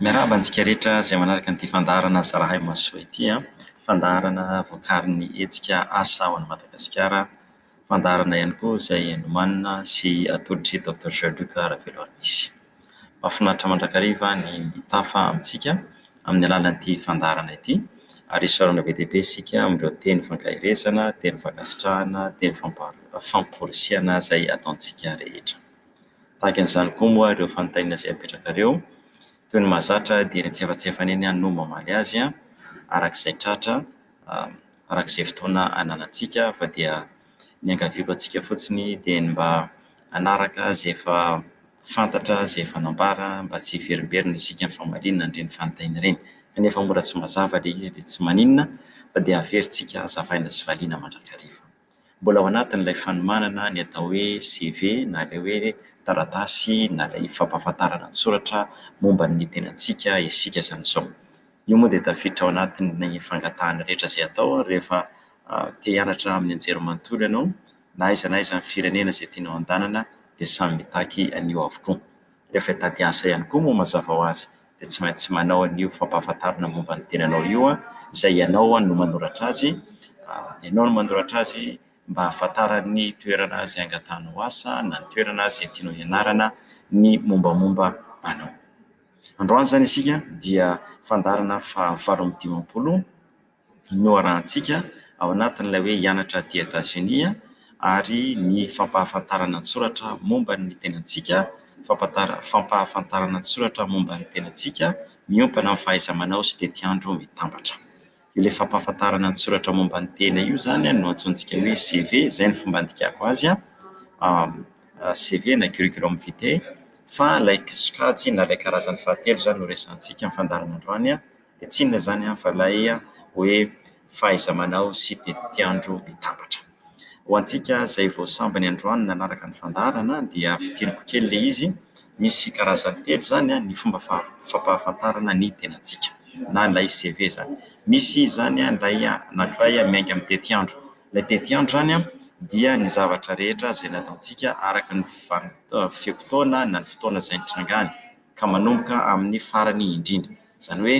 Miarahaba antsika rehetra izay manaraka an'ity fandaharana zarahay masoisoy ity an! Fandaharana vokarin'ny hetsika asa ao Madagasikara. Fandaharana ihany koa izay nomanina sy atolotry Docteur Jean Luc Raveloarimisy. Mahafinaritra mandrakariva ny mitafa amintsika amin'ny alalan'ity fandaharana ity ary isaorana be dia be isika amin'ireo teny ifankaherezana, teny ifankasitrahana, teny fampa- famporisihana izay ataontsika rehetra. Tahaka an'izany koa moa ireo fanontaniana izay apetrakareo, toy ny mahazatra dia eny antsefatsefany eny no mamaly azy araka izay tratra, araka izay fotoana ananantsika fa dia ny iangaviako antsika fotsiny dia ny mba hanaraka izay efa fantatra, izay efa nambara mba tsy hiverimberina isika amin'ny famaliana an'ireny fanontaniana ireny. Kanefa mora tsy mazava ilay izy dia tsy maninona fa dia averintsika hazavaina sy valiana mandrakariva. Mbola ao anatin'ilay fanomanana ny atao hoe CV na ilay hoe taratasy na ilay fampahafantarana an-tsoratra momba ny tenantsika isika izany izao. Io moa dia tafiditra ao anatin'ny fangatahana rehetra izay atao rehefa te hianatra amin'ny anjerimanontolo ianao. Na aiza na aiza amin'ny firenena izay tianao handehanana dia samy mitaky an'io avokoa. Rehefa hitady asa ihany koa moa mazava ho azy dia tsy maintsy manao an'io fampahafantarana momba ny tenanao io an, izay ianao no manoratra azy, ianao no manoratra azy mba hahafantaran'ny toerana izay angatahanao asa na ny toerana izay tianao hianarana ny mombamomba anao. Androany izany isika dia fandaharana fahavalo amby dimampolo noharahantsika ao anatin'ilay hoe hianatra aty Etazonia ary ny fampahafantarana an-tsoratra momba ny tenantsika, fampantara- fampahafantarana an-tsoratra momba ny tenantsika miompana amin'ny fahaiza-manao sy tetiandro mitambatra. Io ilay fampahafantarana an-tsoratra momba ny tena io izany no antsointsika hoe CV, izay no fomba andikako azy an, CV na curriculum vitae, fa ilay sokajy na ilay karazany fahatelo izany no resahantsika amin'ny fandaharana androany an. Dia tsy inona izany fa ilay hoe fahaiza-manao sy tetiandro mitambatra. Ho antsika izay vao sambany androany nanaraka ny fandaharana dia fitiriko kely ilay izy, misy karazany telo izany ny fomba faha- fampahafantarana ny tenantsika na ilay CV izany. Misy izany ilay anankiray miainga amin'ny tetiandro. Ilay tetiandro izany an dia ny zavatra rehetra izay nataontsika araka ny vanim- fe-potoana na ny fotoana izay nitrangany. ka manomboka amin'ny farany indrindra, izany hoe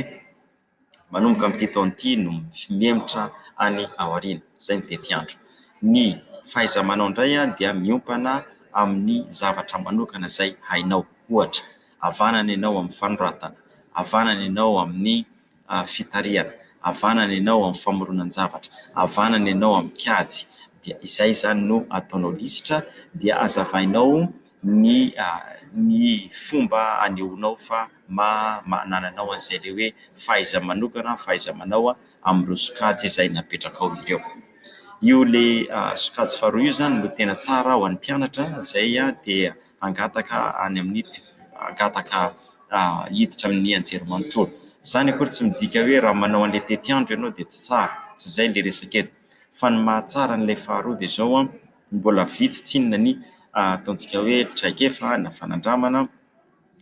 manomboka amin'ity taona ity no mihemotra any aoriana, izay ny tetiandro. Ny fahaiza-manao indray dia miompana amin'ny zavatra manokana izay hainao, ohatra, havanana ianao amin'ny fanoratana, havanana ianao amin'ny fitarihana, havanana ianao amin'ny famoronan-javatra, havanana ianao amin'ny kajy, dia izay izany no ataonao lisitra dia azavainao ny ny fomba anehoanao fa maha manana anao an'izay ilay hoe fahaiza-manokana, fahaiza-manao amin'ireo sokajy izay napetrakao ireo. Io ilay sokajy faharoa io izany no tena tsara ho an'ny mpianatra izay dia hangataka any amin'ny hangataka hiditra amin'ny anjerimanontolo. Izany akory tsy midika hoe raha manao an'ilay tetiandro ianao dia tsy tsara, tsy izay ilay resaka eto fa ny mahatsara an'ilay faharoa dia izao, mbola vitsy tsinona ny ataontsika hoe traikefa na fanandramana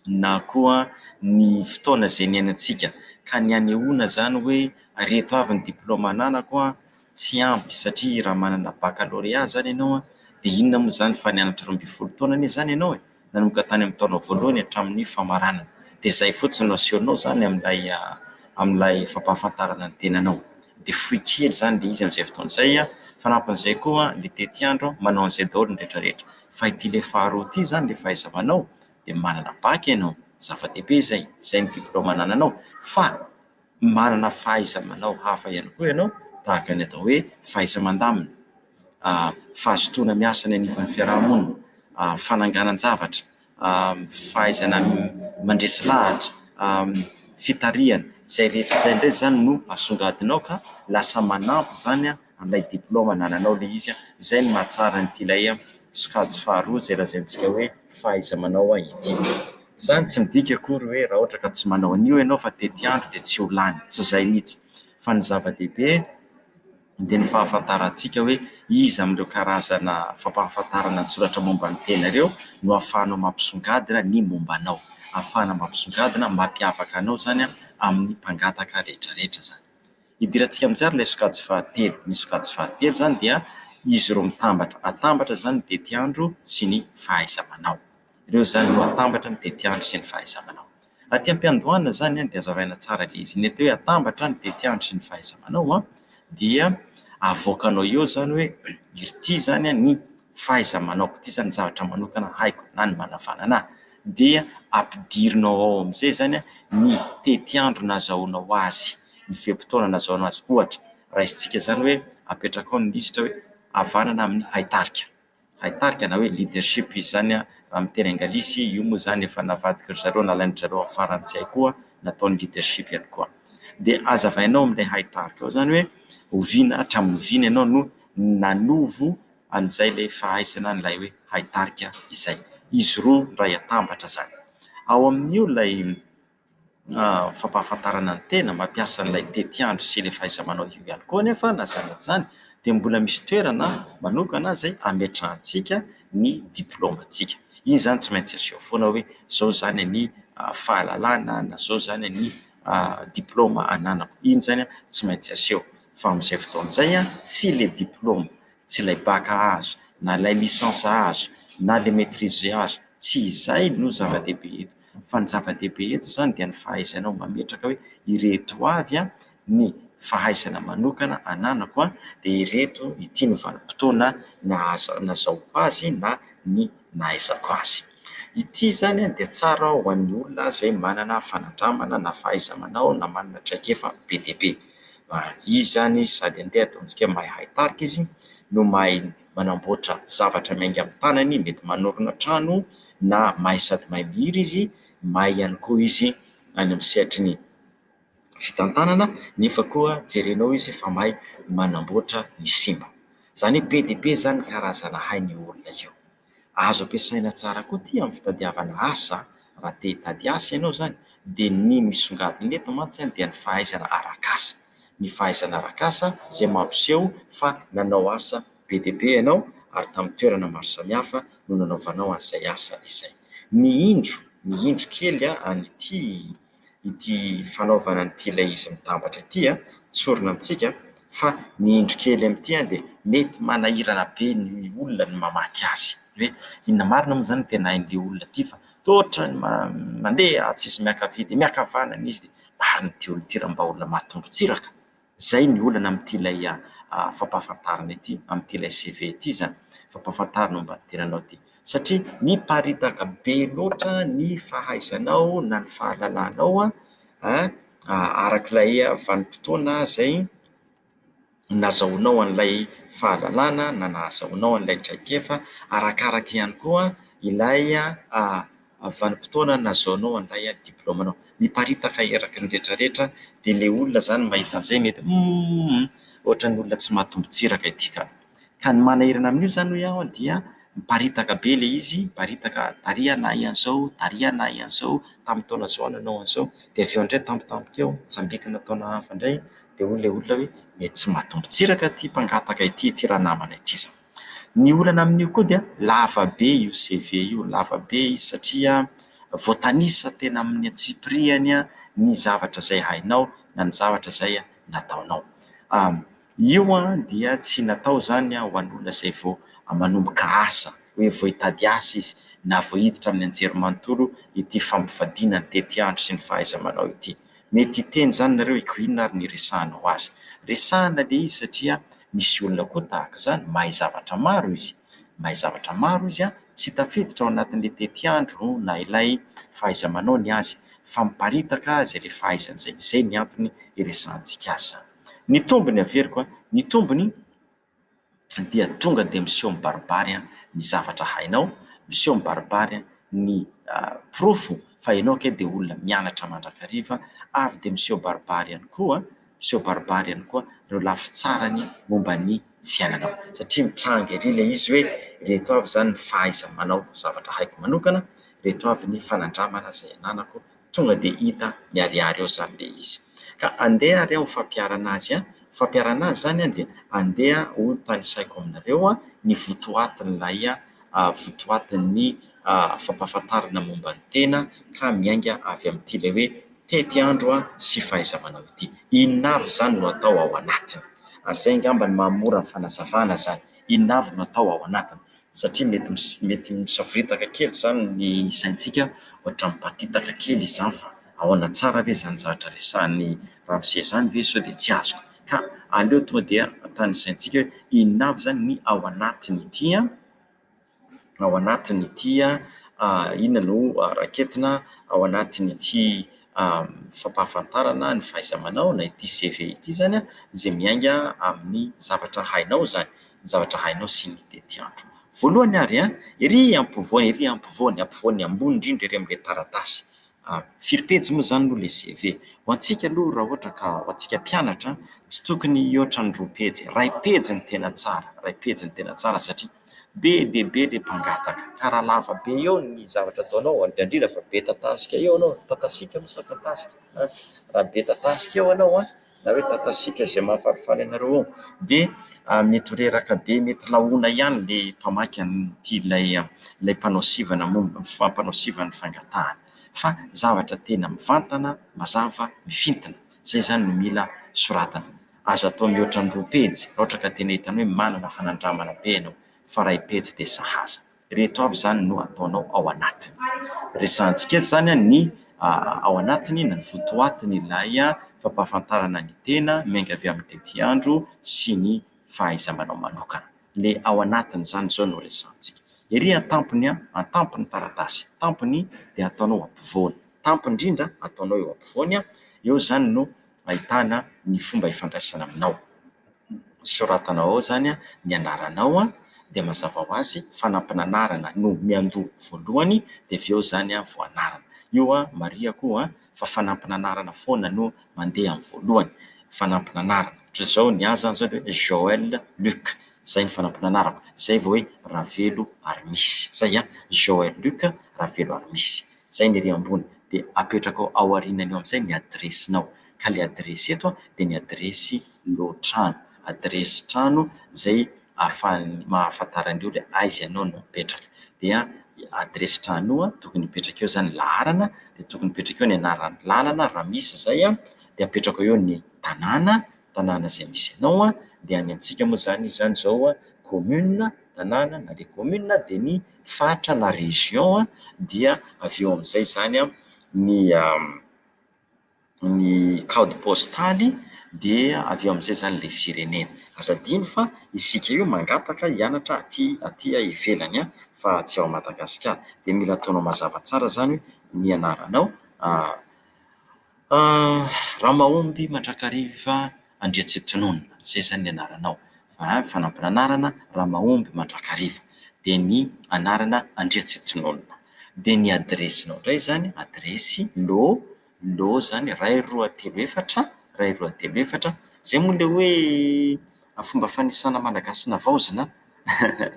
na koa ny fotoana izay niainantsika ka ny hanehoana izany hoe ireto avy ny diplaoma ananako. tsy ampy satria raha manana baccalauréat zany ianao dia inona moa izany fa nianatra roa ambin'ny folo taona anie izany ianao e! nanomboka tany amin'ny taona voalohany hatramin'ny famaranana dia izay fotsiny no asehonao izany amin'ilay amin'ilay fampahafantarana ny tenanao dia fohy kely izany ilay izy amin'izay fotoana izay an! fanampin'izay koa ny tetiandro manao an'izay daholo ny rehetrarehetra fa ity ilay faharoa ity izany ilay fahaiza-manao dia manana bac ianao zava-dehibe izay izay ny diplaoma anananao fa manana fahaiza-manao hafa ihany koa ianao tahaka ny atao hoe fahaiza-mandamina, fahazotoana miasa any anivon'ny fiaraha-monina, fananganan-javatra, fahaizana mandresy lahatra, fitarihana. Izay rehetra izay indray izany no asongadinao ka lasa manampy izany. an'ilay diplaoma anananao ilay izy an, izay no mahatsara an'ity ilay sokajy faharoa izay lazaintsika hoe fahaiza-manao ity. Izany tsy midika akory hoe raha ohatra ka tsy manao an'io ianao fa tetiandro dia tsy ho lany, tsy izay mihitsy. Fa ny zava-dehibe dia ny fahafantarantsika hoe iza amin'ireo karazana fampahafantarana an-tsoratra momba ny tena ireo no ahafahanao mampisongadina ny momba anao. Ahafahana mampisongadina, mampiavaka anao izany amin'ny mpangataka rehetrarehetra izany. Idirantsika amin'izay ary ilay sokajy fahatelo. Ny sokajy fahatelo izany dia izy ireo mitambatra. Atambatra izany ny tetiandro sy ny fahaiza-manao. Ireo izany no atambatra ny tetiandro sy ny fahaiza-manao. Aty am-piandohana izany dia hazavaina tsara ilay izy. Ny atao hoe atambatra ny tetiandro sy ny fahaiza-manao dia avoakanao eo izany hoe ity izany ny fahaiza-manaoko, ity izany ny zavatra manokana haiko na ny manavanana ahy. dia ampidirinao ao amin'izay izany ny tetiandro nazahoanao azy, ny fe-potoana nazahoanao azy. Ohatra, raisintsika izany hoe apetraka ao ny lisitra hoe havanana amin'ny haitarika. Haitarika na hoe leadership izy izany raha amin'ny teny anglisy, io moa izany efa navadik'ry zareo, nalain-dry zareo amin'ny frantsay koa, nataony leadership ihany koa. Dia hazavainao amin'ilay haitarika ao izany hoe oviana hatramin'ny oviana ianao no nanovo. an'izay ilay fahaizana an'ilay hoe haitarika izay. Izy roa iray atambatra izany. Ao amin'io ilay fampahafantarana ny tena, mampiasa an'ilay tetiandro sy ilay fahaiza-manao io ihany koa anefa na izany na tsy izany dia mbola misy toerana manokana izay ametrahantsika ny diplaomantsika. Iny izany tsy maintsy aseho foana hoe izao izany ny fahalalana na izao izany ny diplaoma ananako. Iny izany tsy maintsy aseho fa amin'izay fotoana izay tsy ilay diplaoma. tsy ilay bac azo na ilay licence azo na ilay maitrise azo, tsy izay no zava-dehibe eto fa ny zava-dehibe eto izany dia ny fahaizainao mametraka hoe ireto avy ny fahaizana manokana ananako dia ireto ity no vanim-potoana nahazoako azy na ny nahaizako azy, ity izany dia tsara ho an'ny olona izay manana fanandramana na fahaiza-manao na manana traikefa be dia be. izy zany sady andeha ataontsika mahay hay tarika izy no mahay manamboatra zavatra miainga amin'ny tanany, mety manorina trano na mahay sady mahay mihira izy, mahay ihany koa izy any amin'ny sehatry ny fitantanana nefa koa jerenao izy fa mahay manamboatra ny simba. Izany hoe be dia be izany ny karazana hain'io olona io. Azo ampiasaina tsara koa ity amin'ny fitadiavana asa raha te hitady asa ianao izany dia ny misongadina eto mantsy dia ny fahaizana arak'asa. Ny fahaizana arak'asa izay mampiseho fa nanao asa be dia be ianao ary tamin'ny toerana maro samihafa no nanaovanao an'izay asa izay. Ny indro, ny indro kely an'ity ity fanaovana an'ity ilay izy mitambatra ity an, tsorina amintsika fa ny indro kely amin'ity an dia mety manahirana be ny olona ny mamaky azy hoe inona marina moa izany no tena hain'ity olona ity fa toa ohatran'ny mandeha atsy izy miankavia dia miankavanana izy dia marina ity olona ity raha mba olona maha tongo-tsiraka. Izay ny olana amin'ity ilay fampahafantarana ity, amin'ity ilay CV ity izany, fampahafantarana momba ny tenanao ity. Satria miparitaka be loatra ny fahaizanao na ny fahalalanao an, araka ilay vanim-potoana izay nazahoanao an'ilay fahalalana na nahazahoanao an'ilay traikefa, arakaraka ihany koa ilay. Amin'ny vanim-potoana nazaonao handray an'ny diplaomanao. Miparitaka eraky ny retraretra dia ilay olona izany mahita an'izay mety humm ohatran'ny olona tsy mahatombon-tsiraka ity ka. Ka ny manahirana amin'io izany hoy aho dia miparitaka be ilay izy, miparitaka tary ianà ahy an'izao, tary ianà ahy an'izao, tamin'ny taona izao nanao an'izao. Dia avy eo indray tampotampoka eo, tsambikina taona hafa indray dia hoy ilay olona hoe mety tsy mahatombon-tsiraka ity mpangataka ity, ity ranamana ity izany. Ny olana amin'io koa dia lava be io CV io, lava be izy satria voatanisa tena amin'ny antsipirihany ny zavatra izay hainao na ny zavatra izay nataonao. Io dia tsy natao izany ho an'olona izay vao manomboka asa, hoe vao hitady asa izy na vao hiditra amin'ny anjerimanontolo ity fampivadiana ny tetiandro sy ny fahaiza-manao ity. Mety hiteny izany nareo eko inona ary ny iresahanao azy? Resahina le izy satria misy olona koa tahaka izany, mahay zavatra maro izy, mahay zavatra maro izy an, tsy tafiditra ao anatin'le tetiandro na ilay fahaiza-manao ny azy fa miparitaka izay le fahaizany izay, izay ny antony iresahantsika azy izany. Ny tombony averiko an, ny tombony, dia tonga dia miseho mibaribary ny zavatra hainao, miseho mibaribary ny porofo fa ianao ange dia olona mianatra mandrakariva ary dia miseho mibaribary ihany koa, miseho mibaribary ihany koa ireo lafy tsarany momba ny fiainanao satria mitranga ery ilay izy hoe ireto avy izany ny fahaiza-manao zavatra haiko manokana, ireto avy ny fanandramana izay ananako. Tonga dia hita miharihary eo izany ilay izy. Ka andeha ary aho ho fampiharana azy an! Ho fampiharana azy izany an, dia andeha ho tanisaiko aminareo ny votoatin'ilay votoatin'ny fampahafantarana momba ny tena ka miainga avy amin'ity ilay hoe tetiandro sy fahaiza-manao ity. Inona avy izany no atao ao anatiny? Izay angamba no mahamora ny fanazavana izany. Inona avy no atao ao anatiny? satria mety mety misavoritaka kely izany ny saintsika ohatra mibatitaka kely izany fa ahoana tsara ve izany zavatra resahin'ny ramose izany ve sao dia tsy azoko ka aleo tonga dia atany saintsika hoe inona avy izany ny ao anatin'ity an ao anatin'ity an inona no raketina ao anatin'ity fampahafantarana ny fahaiza-manao na ity CV ity izany an izay miainga amin'ny zavatra hainao izany ny zavatra hainao sy ny tetiandro. Voalohany ary an, ery ampovoany, ery ampovoany, ampovoany ambony indrindra ery amin'ilay taratasy, firy pejy moa izany no ilay CV? Ho antsika aloha raha ohatra ka ho antsika mpianatra an, tsy tokony hihoatra ny roa pejy, iray pejy no tena tsara, iray pejy no tena tsara satria be dia be ilay mpangataka, ka raha lava be eo ny zavatra ataonao, indrindra fa be tatasikay eo ianao, tatasika moa sa tatasika? raha be tatasika eo ianao an, na hoe tatasiaka izay mahafalifaly anareo ao dia mety ho reraka be mety lahoana ihany ilay mpamaky an'ity ilay ilay mpanao sivana momba ny fa- mpanao sivana ny fangatahana fa zavatra tena mivantana mazava mifintina izay izany no mila soratana aza atao mihoatra ny roa pejy raha ohatra ka tena hitany hoe manana fanandramana be ianao fa iray pejy dia sahaza Ireto avy izany no ataonao ao anatiny. Resahantsika eto izany ny ao anatiny na ny votoatin'ilay fampahafantarana ny tena miainga avy amin'ny tetiandro sy ny fahaiza-manao manokana. Ilay ao anatin'izany izao no resahantsika. Ery an-tampony, an-tampon'ny taratasy, tampony dia ataonao ampovoany. Tampony indrindra ataonao eo ampovoany. Eo izany no... ahitana ny fomba ifandraisana aminao. Soratana ao izany ny anaranao dia mazava ho azy fanampin'anarana no miandoha voalohany dia avy eo izany vao anarana. Io marihiko fa fanampin'anarana foana no mandeha amin'ny voalohany, fanampin'anarana. Ohatra izao ny ahy izany izao dia hoe Joel Luc, izay ny fanampin'anarako. Izay vao hoe Ravelo ary misy. Izay an! Joel Luc, Ravelo ary misy. Izay ny ery ambony dia apetraka ao aoriana eo amin'izay ny adiresinao. Ka ilay adiresy eto dia ny adiresy lohatrano, adiresy trano izay ahafahan'ny mahafantara an'ireo hoe aiza ianao no mipetraka. Dia adiresy trano tokony hipetraka eo izany ny laharana, dia tokony hipetraka eo ny anaran'ny lalana raha misy izay, dia apetraka eo ny tanàna. tanàna izay misy anao an, dia any amintsika moa izany izy izany izao an, commune, tanàna, na dia commune dia ny faritra na région an, dia avy eo amin'izay izany an, ny ny code postal-y dia avy eo amin'izay izany ilay firenena. Aza adino fa isika io mangataka hianatra aty aty ivelany an, fa tsy ao Madagasikara. Dia mila ataonao mazava tsara izany ny anaranao. Ramahomby Mandrakariva Andriantsitonona, izay izany ny anaranao. Fa- fanampin'anarana, Ramahomby Mandrakariva. Dia ny anarana, Andriantsitonona. Dia ny adiresinao indray izany, adiresy, lô, lô izany, iray, roa, telo, efatra, iray, roa, telo, efatra. Izay moa ilay hoe fomba fanisana Malagasy navaozina an,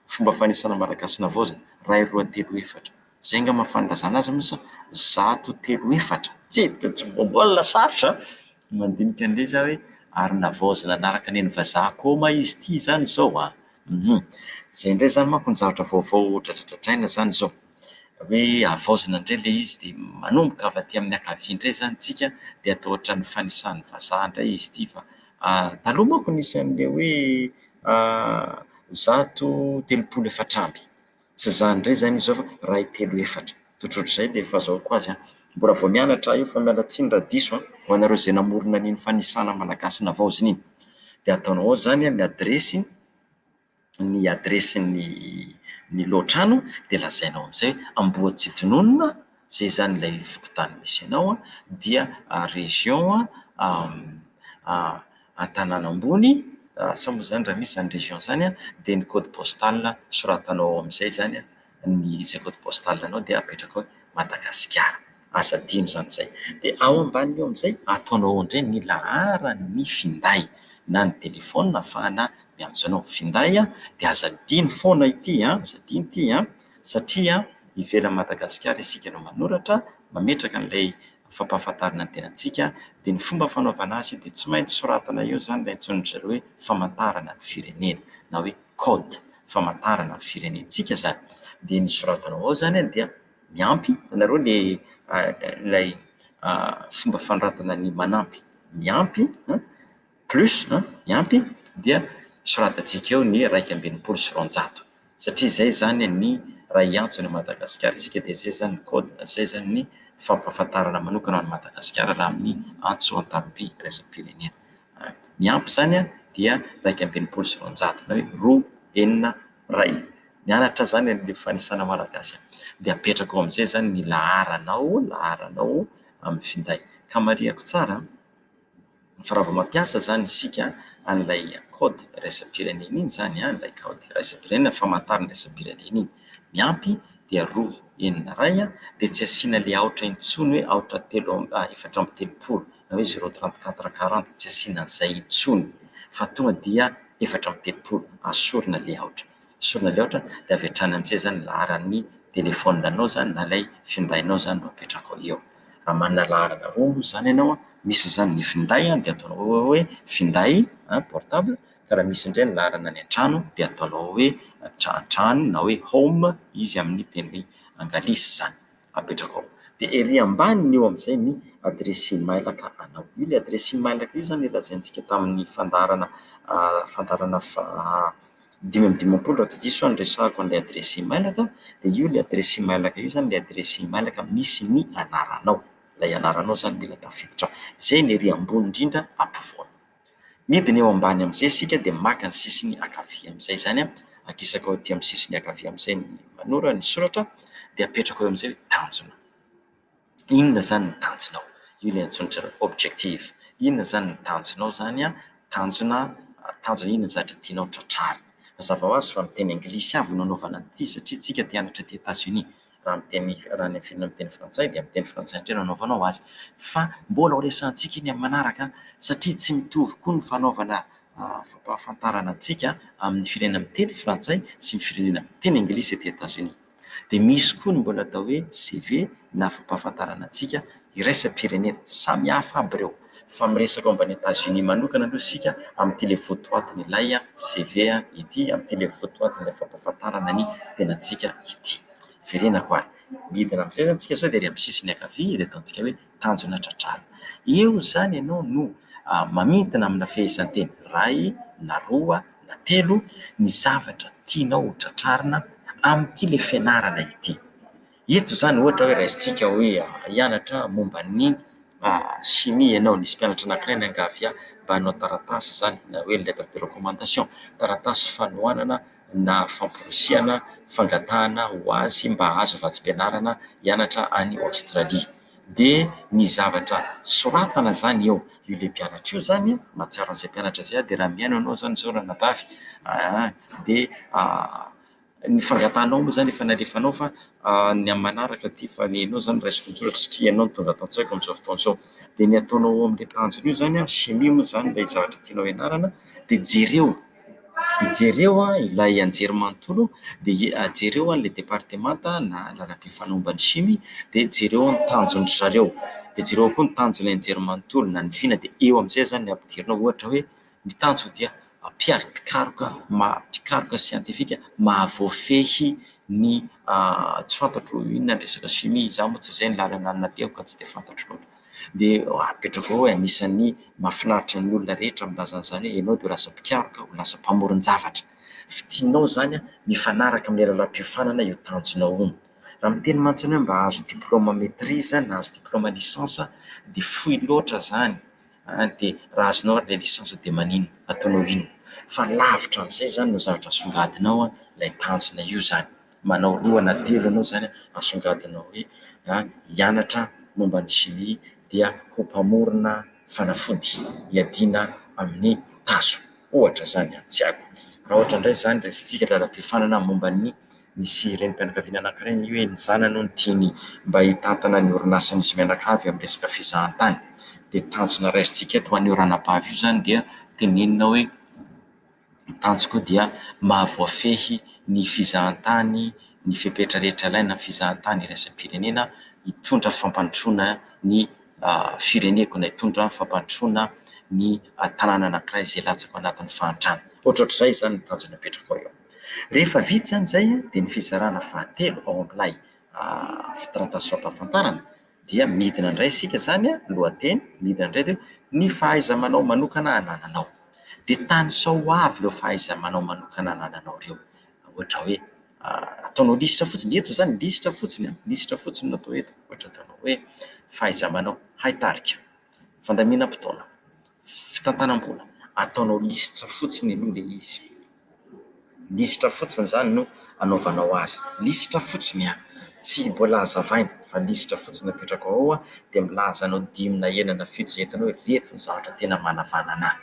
fomba fanisana Malagasy navaozina, iray, roa, telo, efatra. Zay nga ma fanilazana azy mintsy zato telo efatra tsy de tsy mbola sarotra an! mandinika an'le za hoe ary navaozina nanaraka neny vazaha ko ma izy ty zany zao an! hum zay indray zany manko ny zavatra vaovao dradradradraina zany zao hoe havaozina indray le izy de manomboka avy aty amin'ny ankavia indray zany tsika de atao ohatran'ny fanisan'ny vazaha indray izy ty fa taloha manko nisy an'le hoe zato telopolo efatra amby Tsy izany indray izany izy ao fa iray, telo, efatra. Tsotr'otr'izay dia fazahoako azy an! Mbola vao mianatra aho io fa miala tsiny raha diso an! Ho anareo izay namorona an'iny fanisana malagasy navaozina iny. Dia ataonao ao izany ny adiresy, ny adiresin'ny ny lohatrano dia lazainao amin'izay hoe Ambohitsitnonina izay izany ilay fokontany misy anao an, dia région an-tanàna ambony, asa moa izany raha misy izany région izany an, dia ny code postal soratanao ao amin'izay izany an, ny izay code postal anao dia apetraka hoe Madagasikara, aza adino izany izay. Dia ao ambanin'io amin'izay, ataonao ao indray ny laharan'ny finday na ny telefaonina ahafahana miantso anao. Finday an, dia aza adino foana ity an, aza adino ity an, satria an. ivelan'i Madagasikara isika no manoratra, mametraka an'ilay fampahafantarana ny tenantsika, dia ny fomba fanaovana azy dia tsy maintsy soratana eo izany ilay antsoin'dry zareo hoe famantarana ny firenena na hoe code famantarana ny firenentsika izany. Dia ny soratanao ao izany dia miampy anareo ilay ilay fomba fanoratana ny manampy, miampy an! plus a, ny ampy dia soratantsika eo ny iraika amby enimpolo sy roanjato satria izay izany ny raha hiantso an'i Madagasikara isika dia izay izany ny code, izay izany ny fampahafantarana manokana an'i Madagasikara raha amin'ny antso an-tarom-by iraisam-pirenena. Ny ampy izany dia iraika amby enimpolo sy roanjato na hoe roa, enina, iray. Mianatra izany ny fanisana malagasy a. Dia apetrako ao amin'izay izany ny laharanao, laharanao amin'ny finday. Ka marihiko tsara an! Firavanmampiasa izany isika an'ilay kaody iraisam-pirenena iny izany, ilay kaody iraisam-pirenena famantarana iraisam-pirenena iny. Ny ampy dia roa enina iray dia tsy asiana ilay aotra intsony hoe aotra telo amby efatra amby telopolo na hoe zero trente quatre quarante, tsy asiana an'izay intsony fa tonga dia efatra amby telopolo, asorina ilay aotra. diso-potoana loatra dia avy hatrany amin'izay izany ny laharan'ny telefaonina izany na ilay findainao izany no apetrakao eo. Raha manana laharana roa moa izany ianao an, misy izany ny finday dia ataonao eo hoe finday an, portable, fa raha misy indray ny laharana any an-trano dia ataonao hoe tra-trano na hoe home izy amin'ny teny anglisy izany, apetrakao. Dia ery ambaniny eo amin'izay ny adiresy e-mailaka anao. Io ilay adiresy e-mailaka io izany ilay lazaintsika tamin'ny fandaharana fandaharana fa- dimy amby dimampolo raha tsy diso aho no resahako an'ilay adiresy e-mail ka, dia io ilay adiresy e-mail-ko io izany ilay adiresy e-mail-ko misy ny anaranao, ilay anaranao izany mila tafiditra ao, izay ny ery ambony indrindra ampovoany. Midina eo ambany amin'izay isika dia maka ny sisiny ankavia amin'izay izany an, ankisaka ao aty amin'ny sisiny ankavia amin'izay ny manora ny soratra dia apetraka eo amin'izay hoe tanjona. Inona izany ny tanjonao? Io ilay antsoin'ny ry zareo objectif. Inona izany ny tanjonao izany? Tanjona, tanjona inona ny zavatra tianao tratrarina? Mazava ho azy fa miteny anglisy avy no nanaovana an'ity satria isika te hianatra aty Etazonia. Raha miteny raha any amin'ny firenena miteny frantsay dia miteny frantsay indray no anaovanao azy. Fa mbola ho resahantsika iny amin'ny manaraka satria tsy mitovy koa ny fanaovana fampahafantarana antsika amin'ny firenena miteny frantsay sy ny firenena miteny anglisy aty Etazonia. Dia misy koa ny mbola atao hoe CV na fampahafantarana antsika iraisam-pirenena. Samihafa aby ireo fa miresaka momba an'i Etats Unis manokana aloha isika amin'ity ilay votoatin'ilay CV ity, amin'ity ilay votoatin'ilay fampahafantarana ny tenantsika ity. Verenako ary. Midina amin'izay izany isika izao dia ery amin'ny sisiny ankavia dia ataontsika hoe. tanjona tra-drano. Eo izany ianao no mamintina amina fehezanteny iray na roa na telo ny zavatra tianao ho tratrarina amin'ity ilay fianarana ity. Eto izany ohatra hoe raisintsika hoe hianatra momba ny chimie ianao, nisy mpianatra anankiray niangavy ahy mba hanao taratasy izany na hoe lettre de recommandation, taratasy fanohanana na famporisihana fangatahana ho azy mba hahazo vatsim-pianarana hianatra any Aostralia. Dia ny zavatra soratana izany eo ilay mpianatra io izany an, mahatsiaro an'izay mpianatra izay aho, dia raha mihaino anao izany izao ranabavy aa, dia ny fangatahanao moa izany efa nalefanao fa ny amin'ny manaraka ity fa ny anao izany raisiko an-tsoratra satria ianao no tonga ato an-tsaiko amin'izao fotoana izao. Dia ny ataonao ao amin'ilay tanjona io izany an, chimie moa izany ilay zavatra tianao hianarana, dia jereo. Jereo ilay anjerimanontolo dia jereo ilay departemanta na lalam-be fanomban'ny shimi dia jereo ny tanjon-dry zareo. Dia jereo koa ny tanjon'ilay anjerimanontolo na ny vina dia eo amin'izay izany ny ampidirina ohatra hoe ny tanjony dia hampiaro mpikaroka maha mpikaroka siantifika mahavoafehy ny tsy fantatro inona ny resaka shimi. Izaho moa tsy izay ny lalana nalehako ka tsy dia fantatro loatra. dia apetrako ao hoe anisan'ny mahafinaritra ny olona rehetra milaza an'izany hoe ianao dia ho lasa mpikaroka, ho lasa mpamoron-javatra. Fidinao izany mifanaraka amin'ny lalam-piofanana io tanjonao io. Raha miteny mantsiny hoe mba hahazo diplaoma maîtrise na hahazo diplaoma licence dia fohy loatra izany an! dia raha azonao ary ilay licence dia maninona? ataonao inona? fa lavitra an'izay izany no zavatra asongadinao an, ilay tanjona io izany. manao roa na telo ianao izany asongadinao hoe hianatra momba ny chimie dia ho mpamorona fanafody hiadiana amin'ny tazo, ohatra izany an! tsy haiko raha ohatra indray izany raisintsika Ralambiofanana momba ny misy renim-pianakaviana anankiray anie hoe ny zanany hono tiany mba hitantana ny orinasan'izy mianakavy amin'ny resaka fizahantany dia tanjona raisintsika eto ho an'io ranabavy io izany dia tenenina hoe Ny tanjoko koa dia maha voafehy ny fizahantany ny fepetra rehetra ilaina amin'ny fizahantany iraisam-pirenena, hitondra fampandrosoana ny fireneko na hitondra fampandrosoana ny tanàna anankiray izay latsaka ao anatin'ny fahantrana. Ohatrohatr'izay izany ny tanjona apetrako eo. Rehefa vita izany izay dia ny fizarana fahatelo ao amin'ilay fitaratasy fampahafantarana. dia midina indray isika izany an, lohateny, midina indray dia hoe ny fahaiza-manao manokana anananao. Dia tanisao ho avy ireo fahaiza-manao manokana anananao ireo. Ohatra hoe ataonao lisitra fotsiny, eto izany lisitra fotsiny an, lisitra fotsiny no atao eto. Ohatra ataonao hoe fahaiza-manao hay tarika, fandaminam-potoana, fitantanam-bola, ataonao lisitra fotsiny aloha ilay izy. Lisitra fotsiny izany no anaovanao azy. Lisitra fotsiny an! Tsy mbola hazavaina fa lisitra fotsiny no apetrako ao dia milaza anao dimy na enina na fito izay hitanao hoe ireto no zavatra tena manavanana ahy.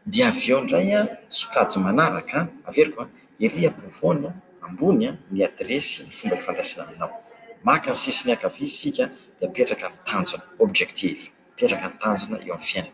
Dia avy eo indray an, sokajy manaraka an, averiko an, ery ampovoany an, ambony an, ny adiresy, ny fomba ifandraisana aminao. Maka ny sisiny ankavia isika dia apetraka ny tanjona, objective. Apetraka ny tanjona eo amin'ny fiainana.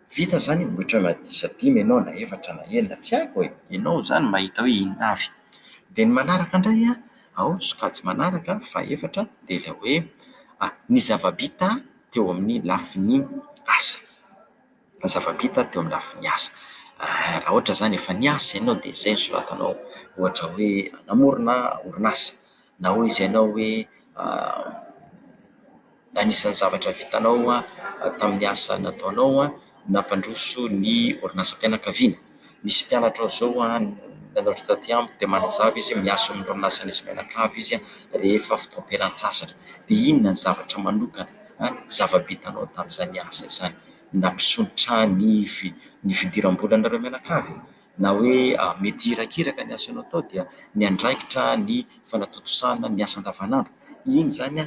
Vita zany e, otrany na disa dimy enao na efatra na enina tsy haiko e. Enao zany mahita hoe inona avy. Dia ny manaraka indray an, ao sokajy manaraka fahefatra dia ilay hoe ny zava-bita teo amin'ny lafiny asa. Ny zava-bita teo amin'ny lafiny asa. Raha ohatra zany efa niasa enao dia zay no soratanao ohatra hoe namorona orinasa na hoy izy enao hoe Anisan'ny zavatra vitanao tamin'ny asa nataonao nampandroso ny orinasam-pianakaviana. Misy mpianatrao izao nanaitra taty amiko dia manazava izy hoe miasa eo amin'ny orinasa nisy mianakavy izy rehefa fotoam-pialantsasatra. Dia inona ny zavatra manokana, zava-bitanao tamin'izany asa izany nampisontrotra ny ny fidiram-bolanareo mianakavy? na hoe mety hirakiraka ny asanao atao dia miandraikitra ny fanatontosana ny asa andavanandro. Iny izany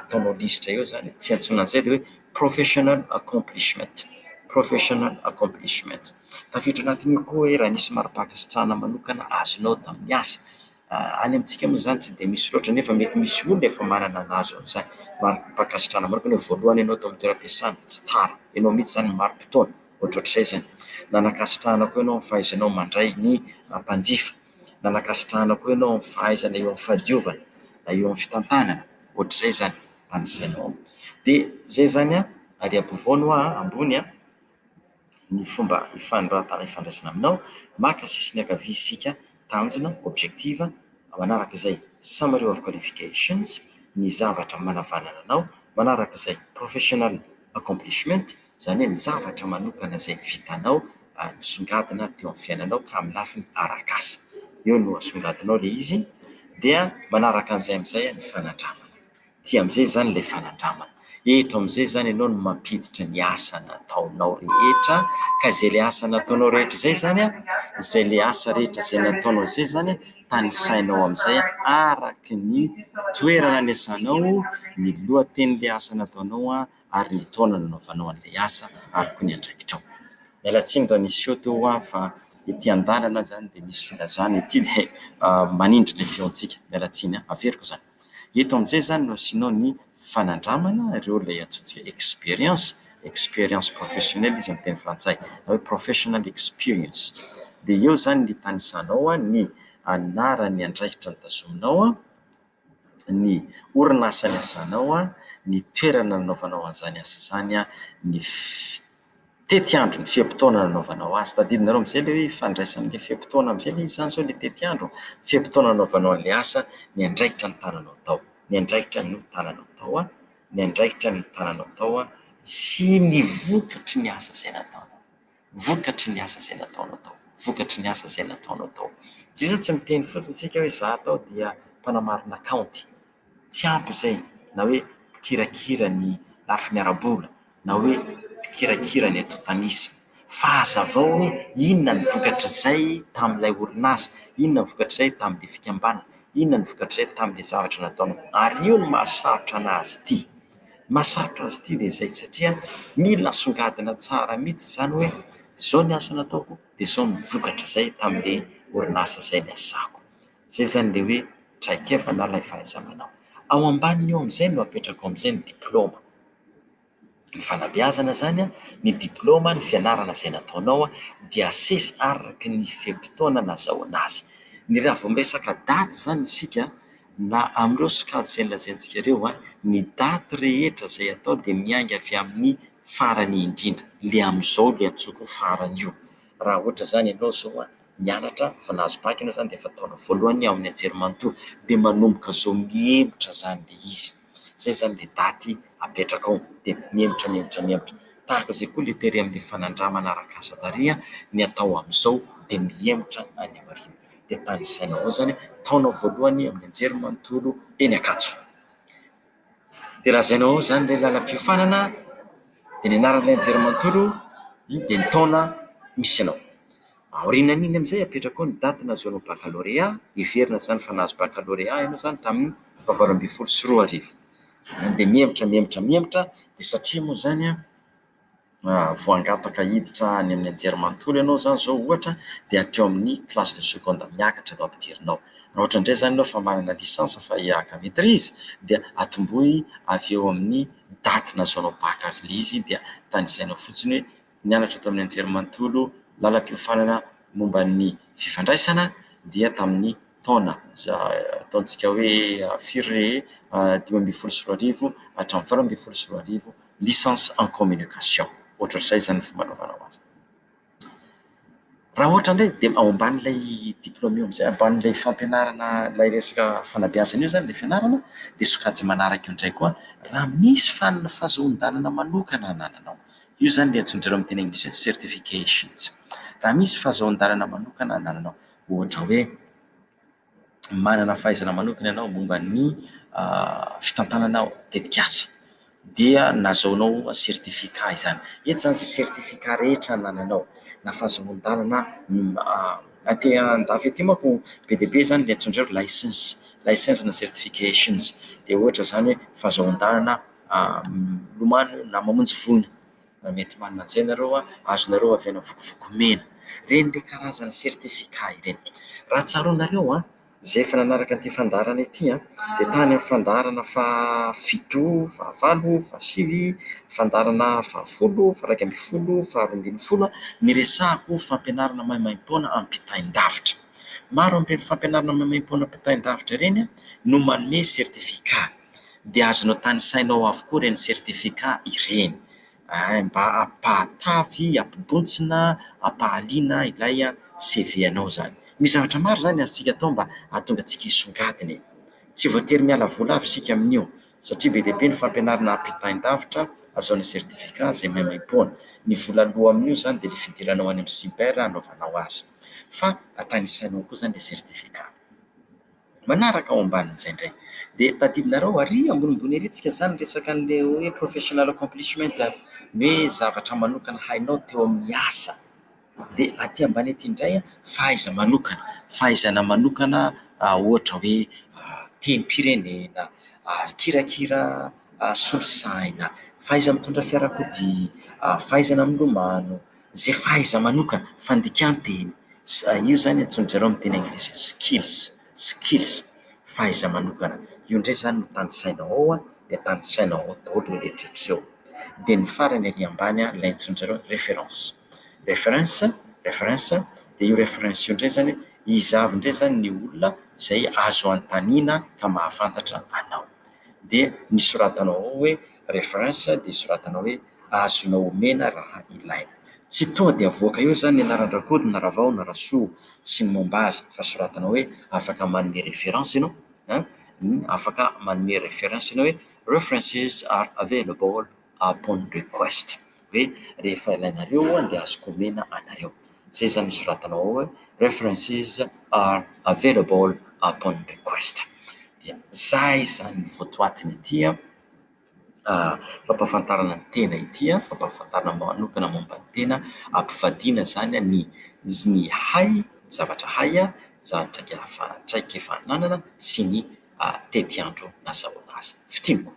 ataonao lisitra eo izany, fiantsoana an'izay dia hoe professional accomplishment, professional accomplishment. Tafiditra anatin'io koa hoe raha nisy mari-pankasitrahana manokana azonao tamin'ny asa. Any amintsika moa izany tsy dia misy loatra nefa mety misy olona efa manana nahazo an'izany mari-pankasitrahana manokana hoe voalohany ianao tao amin'ny toeram-piasana, tsy tara, ianao mihitsy izany marim-potoana. ohatrohatr'izay izany. Nanakasitrahana koa ianao amin'ny fahaizanao mandray ny mpanjifa. Nanakasitrahana koa ianao amin'ny fahaizana eo amin'ny fahadiovana na eo amin'ny fitantanana, ohatr'izay izany, tanisainao ao. Dia izay izany an, ary ampovoany hoa an, ambony an, ny fomba ifanoratana ifandraisana aminao, maka sisiny ankavia isika tanjona, objective, manaraka izay, summary of qualifications, ny zavatra manavanana anao, manaraka izay, professional accomplishment, izany hoe ny zavatra manokana izay vitanao, nisongadina teo amin'ny fiainanao ka amin'ny lafiny ara-kasa. Eo no asongadinao ilay izy, dia manaraka an'izay amin'izay ny fanandramana. Ity amin'izay izany ilay fanandramana. Eto amin'izay izany ianao no mampiditra ny asa nataonao rehetra, ka izay ilay asa nataonao rehetra izay izany an, izay ilay asa rehetra izay nataonao izay izany an, tanisainao amin'izay araka ny toerana niasanao, ny lohatenin'ilay asa nataonao an, ary ny taona nanaovanao an'ilay asa ary koa ny andraikitrao. Miala tsiny raha niseho teo ho aho fa ety an-dalana izany dia misy filazana, ety dia manindry ilay feontsika. Miala tsiny an, averiko izany. Eto amin'izay izany no asianao ny fanandramana ireo ilay antsointsika expérience, expérience professionnelle izy amin'ny teny frantsay na hoe professional experience. Dia eo izany ny tanisanao ny anaran'ny andraikitra notazominao, ny orinasa niasanao, ny toerana nanaovanao an'izany asa izany, ny fi- tetiandro ny fe-potoana nanaovanao azy. Tadidinareo amin'izay ilay hoe ifandraisan'ny ilay fe-potoana amin'izay ilay izy izany sao ilay tetiandro, ny fe-potoana nanaovanao an'ilay asa, ny andraikitra nitananao tao. Ny andraikitra nitananao tao an, ny andraikitra nitananao tao an, sy ny vokatry ny asa izay nataonao. Vokatry ny asa izay nataonao tao. Vokatry ny asa izay nataonao tao. Tsy iza tsy miteny fotsiny isika hoe izaho tao dia mpanamarina kaonty. Tsy ampy izay na hoe mpikirakira ny lafiny ara-bola na hoe mpikirakira ny antontan'isa. Fa hazavao hoe inona ny vokatr'izay tamin'ilay orinasa, inona ny vokatr'izay tamin'ilay fikambanana, inona ny vokatr'izay tamin'ilay zavatra nataonao. Ary io no mahasarotra an'azy ity. Ny mahasarotra azy ity dia izay satria mila asongadina tsara mihitsy izany hoe izao ny asa nataoko dia izao ny vokatr'izay tamin'ilay orinasa izay niasako. Izay izany ilay hoe traikefa na ilay fahaiza-manao. Ao ambaniny eo amin'izay no apetrako amin'izay ny diplaoma. Ny fanabeazana izany, ny diplaoma, ny fianarana izay nataonao dia asesy araka ny fe-potoana nazahoana azy. Ny raha vao miresaka daty izany isika na amin'ireo sokajy izay nolazaintsika ireo, ny daty rehetra izay atao dia miainga avy amin'ny farany indrindra, ilay amin'izao ilay antsoiko hoe farany io. Raha ohatra izany ianao izao mianatra vao nahazo bac ianao izany dia efa taona voalohany ao amin'ny anjerimanontolo dia manomboka izao mihemotra izany ilay izy. Izay izany ilay daty apetrakao dia mihemotra mihemotra mihemotra. Tahaka izay koa ilay tery amin'ny fanandramana arak'asa tarehy ny atao amin'izao dia mihemotra any aoriana. Dia tanisaina ao izany taona voalohany amin'ny anjerimanontolo eny Ankatso. Dia raha izay no ao izany ilay lalam-piofanana dia ny anaran'ilay anjerimanontolo dia ny taona misy anao. Aorianan'iny amin'izay apetrako ao ny daty nahazoanao bakalorea, heverina izany fa nahazo bakalorea ianao izany tamin'ny fahavalo ambin'ny folo sy roa arivo. Dia mihemotra mihemotra mihemotra dia satria moa izany an voangataka hiditra any amin'ny anjerimanontolo ianao izany izao ohatra dia hatreo amin'ny classe de seconde miakatra no ampidirinao. Raha ohatra indray izany ianao efa manana licence fa hihaka maitrise dia atombohy avy eo amin'ny daty nahazoanao bac azy ilay izy dia tanisainao fotsiny hoe nianatra tao amin'ny anjerimanontolo lalam-piofanana momba ny fifandraisana dia tamin'ny taona izay ataontsika hoe firy re e? dimy ambin'ny folo sy roa arivo hatramin'ny valo ambin'ny folo sy roa arivo, licence en communication, ohatr'izay izany ny fomba anaovana ho azy. Raha ohatra indray dia ao ambanin'ilay diplaoma eo amin'izay, ambanin'ilay fampianarana ilay resaka fanabeazana eo izany ilay fianarana dia sokajy manaraka eo indray koa raha misy fanina fahazoan-dalana manokana anananao, io izany ilay antsoin-dry zareo amin'ny teny anglisy hoe certifications, raha misy fahazoan-dalana manokana anananao. Ohatra hoe, manana fahaizana manokana ianao momba ny fitantanana tetikasa, dia nahazoanao certificat izany. Eto izany izay certificat rehetra anananao, na fahazoan-dalana aty an-dafy aty manko be dia be izany ilay antsoin-dry zareo license, license na certifications. Dia ohatra izany hoe fahazoan-dalana milomano na mamonjy voina. Raha mety manana an'izay nareo a, azonareo avy ana vokovoko mena. Ireny le karazana certificat ireny. Raha tsaroanareo a, izay efa nanaraka an'ity fandaharana ity a, dia tany amin'ny fandaharana fahafito, fahavalo, fahasivy, fandaharana fahafolo, faha-iraika ambin'ny folo, faharoa ambin'ny folo a, niresahako fampianarana maimaimpoana ampitain-davitra. Maro amin'ireny fampianarana maimaimpoana ampitain-davitra ireny a, no manome certificat. Dia azonao tanisaina ao avokoa ireny certificat ireny. Mba ampahatavy, ampibontsina, ampahaliana ilay CV anao izany. Misy zavatra maro izany azontsika atao mba hahatonga antsika hisongadina e. Tsy voatery miala vola avy isika amin'io satria be dia be ny fampianarana ampitain-davitra azo amin'ny certificat izay maimaim-poana. Ny vola aloa amin'io izany dia ilay fidiranao any amin'ny cyber hanaovanao azy. Fa tanisainao koa izany ilay certificat. Manaraka ao ambanin'izay indray dia tadidinareo ary ambonimbony ery tsika zany resaka an'ilay hoe professional accomplishment ny hoe zavatra manokana hainao teo amin'ny asa dia aty ambany aty indray fahaiza-manokana, fahaizana manokana ohatra hoe tenim-pirenena, kirakira solosaina, fahaiza-mitondra fiarakodia, fahaizana milomano. Izay fahaiza-manokana, fandikan-teny. Io izany antsoin-dry zareo amin'ny teny anglisy hoe skills, skills, fahaiza-manokana. Io indray izany no tanisainao ao dia tanisainao ao daholo ireo rehetra ireo. Dia ny farany ary ambany ilay antsoin-dry zareo hoe référence. Référence, référence, dia io référence io indray izany hoe iza avy indray izany ny olona izay azo anontaniana ka mahafantatra anao. Dia ny soratanao ao hoe. reference dia soratanao hoe azonao omena raha ilaina. Tsy tonga dia avoaka eo izany ny anaran-dRakoto na Ravao na Rasoa sy ny momba azy fa soratanao hoe afaka manome reference ianao an, afaka manome reference ianao hoe references are available upon request hoe rehefa ilainareo an dia azoko omena anareo. Izay izany soratanao ao hoe references are available upon request. Dia izay izany ny votoatiny ity an. fampahafantarana ny tena ity, fampahafantarana manokana momba ny tena, ampivadiana izany ny ny hay, ny zavatra hay, ny zavatra traikefa ananana sy ny tetiandro nazahoana azy. Fintiniko,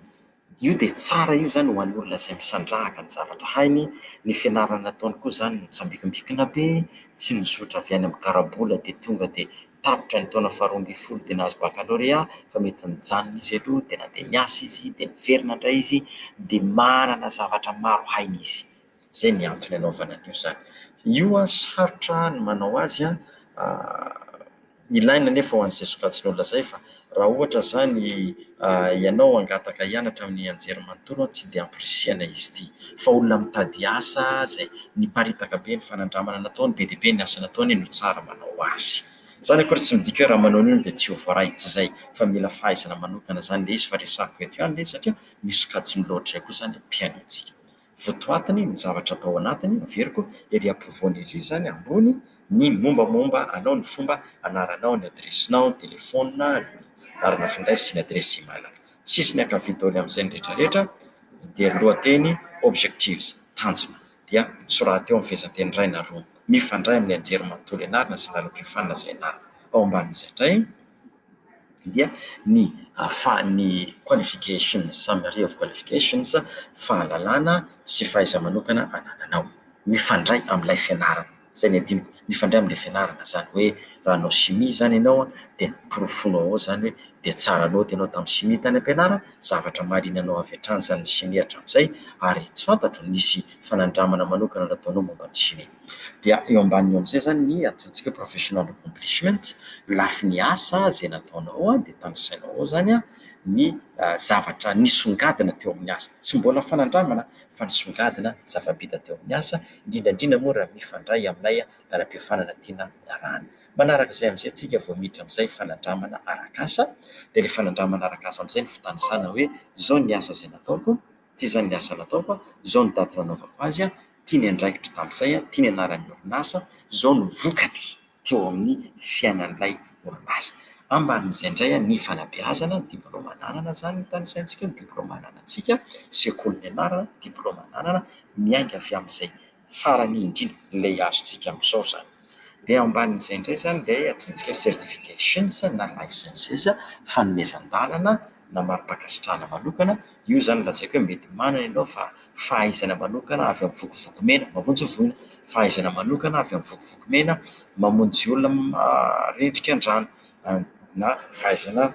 io dia tsara io izany ho an'olona izay misandrahaka ny zavatra hainy, ny fianarana ataony koa izany mitsambikimbikina be, tsy mizotra avy any amin'ny karabola dia tonga dia... tapitra ny taona faharoa ambin'ny folo dia nahazo bakalorea fa mety nijanona izy aloha dia nandeha niasa izy dia niverina indray izy dia manana zavatra maro hainy izy. Izay ny antony anaovana an'io izany. Io an sarotra ny manao azy an, ilaina anefa ho an'izay sokajin'olona izay fa Raha ohatra izany ianao hangataka hianatra amin'ny anjerimanontolo tsy dia amporisihana izy ity fa olona mitady asa izay niparitaka be ny fanandramana nataony, be dia be ny asa nataony no tsara manao azy. Izany akory tsy midika hoe raha manao an'io dia tsy ho voaray, tsy izay fa mila fahaizana manokana izany ilay izy fa resahiko eto ihany ilay izy satria misy sokajiny loatra izay koa izany ny mpihaino antsika. votoatiny ny zavatra atao anatiny averiko ery ampovoany ery izany ambony ny mombamomba anao ny fomba anaranao ny adiresinao ny telefona ny anarana finday sy ny adiresy email sisiny ankavia daholo amin'izay ny retraretra dia ny lohateny objectives tanjona dia soraty eo amin'ny fehezanteny iray na roa mifandray amin'ny anjerimanontolo ianarana sy ny lalam-piofanana izay ianarana ao ambanin'izay indray dia ny ahafahan'ny qualifications summary of qualifications, fahalalana sy fahaiza-manokana anananao, mifandray amin'ilay fianarana. Izay no adinoko, mifandray amin'ilay fianarana. Izany hoe raha nanao chimie izany ianao an, dia porofoinao ao izany hoe dia tsara note ianao tamin'ny chimie tany am-pianarana, zavatra mahalianao avy hatrany izany ny chimie hatramin'izay, ary tsy fantatro, nisy fanandramana manokana nataonao momba ny chimie. dia eo ambaniny eo amin'izay zany ny antsointsika hoe professional accomplishment, ny lafiny asa izay nataonao dia tanisainao ao zany ny zavatra nisongadina teo amin'ny asa, tsy mbola fanandramana fa nisongadina zava-bita teo amin'ny asa, indrindra indrindra moa raha mifandray amin'ilay lalam-piofanana tiana hiarahana. Manarak'izay amin'izay tsika vao miditra amin'izay fanandramana arak'asa, dia ilay fanandramana arak'asa amin'izay no fitanisana hoe izao ny asa izay nataoko. Ity izany ny asa nataoko, izao ny daty nanaovako azy, ity ny andraikitro tamin'izay, ity ny anaran'ny orinasa, izao ny vokany teo amin'ny fiainan'ilay orinasa. Ambanin'izay indray ny fanabeazana, ny diplaoma ananana izany nitanisaintsika eo, ny diplaoma ananantsika, sekoly nianarana, diplaoma ananana, miainga avy amin'izay farany indrindra, ilay azontsika amin'izao izany. Dia ao ambanin'izay indray izany dia ataontsika certifications na licences fanomezan-dalana na mari-pankasitrahana manokana. Io izany lazaiko hoe mety manana ianao fa fahaizana manokana avy amin'ny vokovoko mena mamonjy voina, fahaizana manokana avy amin'ny vokovoko mena mamonjy olona rendrikan-drano na fahaizana.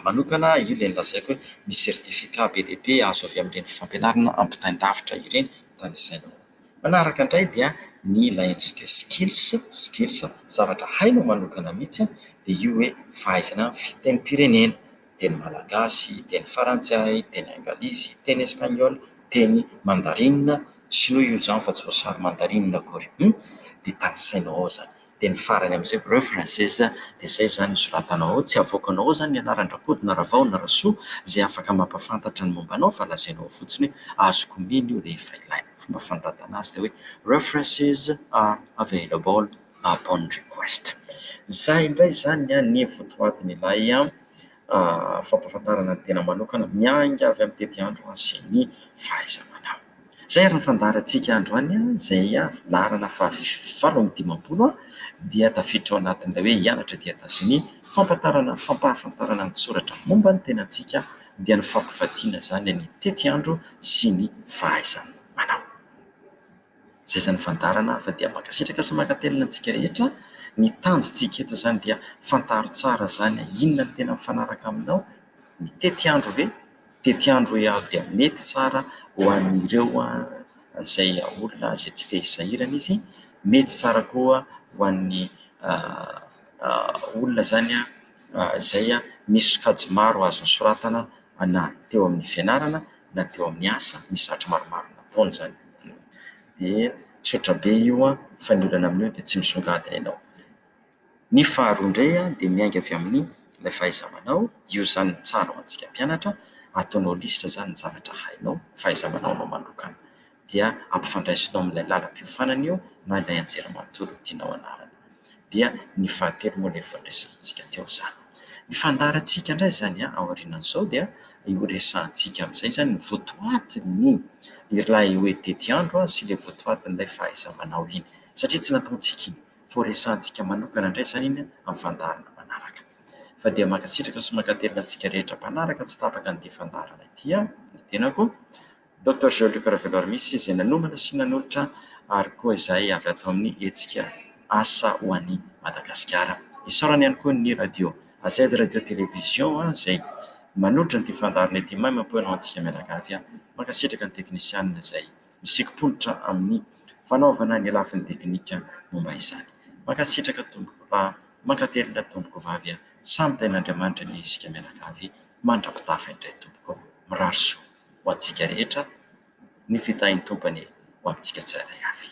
manokana io ilay nolazaiko hoe misy certificat be dia be azo avy amin'ireny fampianarana ampitain-davitra ireny tanisaina ao. Manaraka indray dia ny ilay antsika skills, skills, zavatra hainao manokana mihitsy, dia io hoe fahaizana fitenim-pirenena, teny malagasy, teny farantsay, teny anglisy, teny espaniola, teny mandarinina, shinoa io izany fa tsy voasarin'ny mandarinina akory, dia tanisainao ao izany. teny farany amin'izay preuve française dia izay izany hisoratanao ao, tsy havoakanao ao izany ny anaran-dRakody na Ravao na Rasoa izay afaka mampahafantatra ny momba anao fa lazainao ao fotsiny hoe azoko omena io rehefa ilaina. Ny fomba fanoratana azy dia hoe references are available upon request. Izay indray izany ny votoatin'ilay. fampahafantarana ny tena manokana miainga avy amin'ny tetiandro sy ny fahaiza-manao. Izay ary ny fandaharantsika androany izay laharana fahavalo amby dimampolo dia tafiditra ao anatin'ilay hoe hianatra aty Etazonia. Fampahatarana fampahafantarana ny soratra momba ny tenantsika dia ny fampivadiana izany ny tetiandro sy ny fahaiza-manao. Zaiza ny fandaharana hafa dia mankasitraka sy mankatelina antsika rehetra. Ny tanjontsika eto izany dia fantaro tsara izany hoe inona no tena mifanaraka aminao. Ny tetiandro ve? Tetiandro hoe avy dia mety tsara ho an'ireo izay olona izay tsy te hisahirana izy. Mety tsara koa ho an'ny olona izany izay misy sokajy maro azo nosoratana na teo amin'ny fianarana. na teo amin'ny asa, misy zavatra maromaro nataony izany. Dia tsotra be io an, fa ny olana amin'io dia tsy misongadina ianao. Ny faharoa indray dia miainga avy amin'ny ilay fahaiza-manao, io izany no tsara ho antsika mpianatra, ataonao lisitra izany ny zavatra hainao, fahaiza-manaonao manokana. dia ampifandraisinao amin'ilay lalam-piofanana io na ilay anjely manontolo tianao hanarina. Dia ny fahatelo moa ilay efa noresahantsika teo izany. Ny fandaharantsika indray izany aorianan'izao dia io resahantsika amin'izay izany ny votoatin'ny ilay hoe tetiandro sy ilay votoatin'ilay fahaiza-manao iny, satria tsy nataontsika iny fa ho resahantsika manokana indray izany iny amin'ny fandaharana manaraka. Fa dia mankasitraka sy mankatelina antsika rehetra mpanaraka tsy tapaka an'ity fandaharana ity aho, ny tenako, Doctor Jean-Luc Raveloarimisy izay nanomana sy nanolotra ary koa izay avy ato amin'ny hetsika Asa ho an'i Madagasikara. Isaorana ihany koa ny Radio AZ Radio Télévision izay manolotra an'ity fandaharana ity maimaimpoana ho antsika mianakavy. Mankasitraka ny teknisianina izay misikim-ponitra amin'ny fanaovana ny lafiny teknika momba izany. Mankasitraka tompoko lahy, mankatelina tompoko vavy a! Samy tain'Andriamanitra ny isika mianakavy mandra-pitafa indray tompoko. Mirary soa. ho antsika rehetra, ny fitahian-tobany ho amintsika tsirairay avy.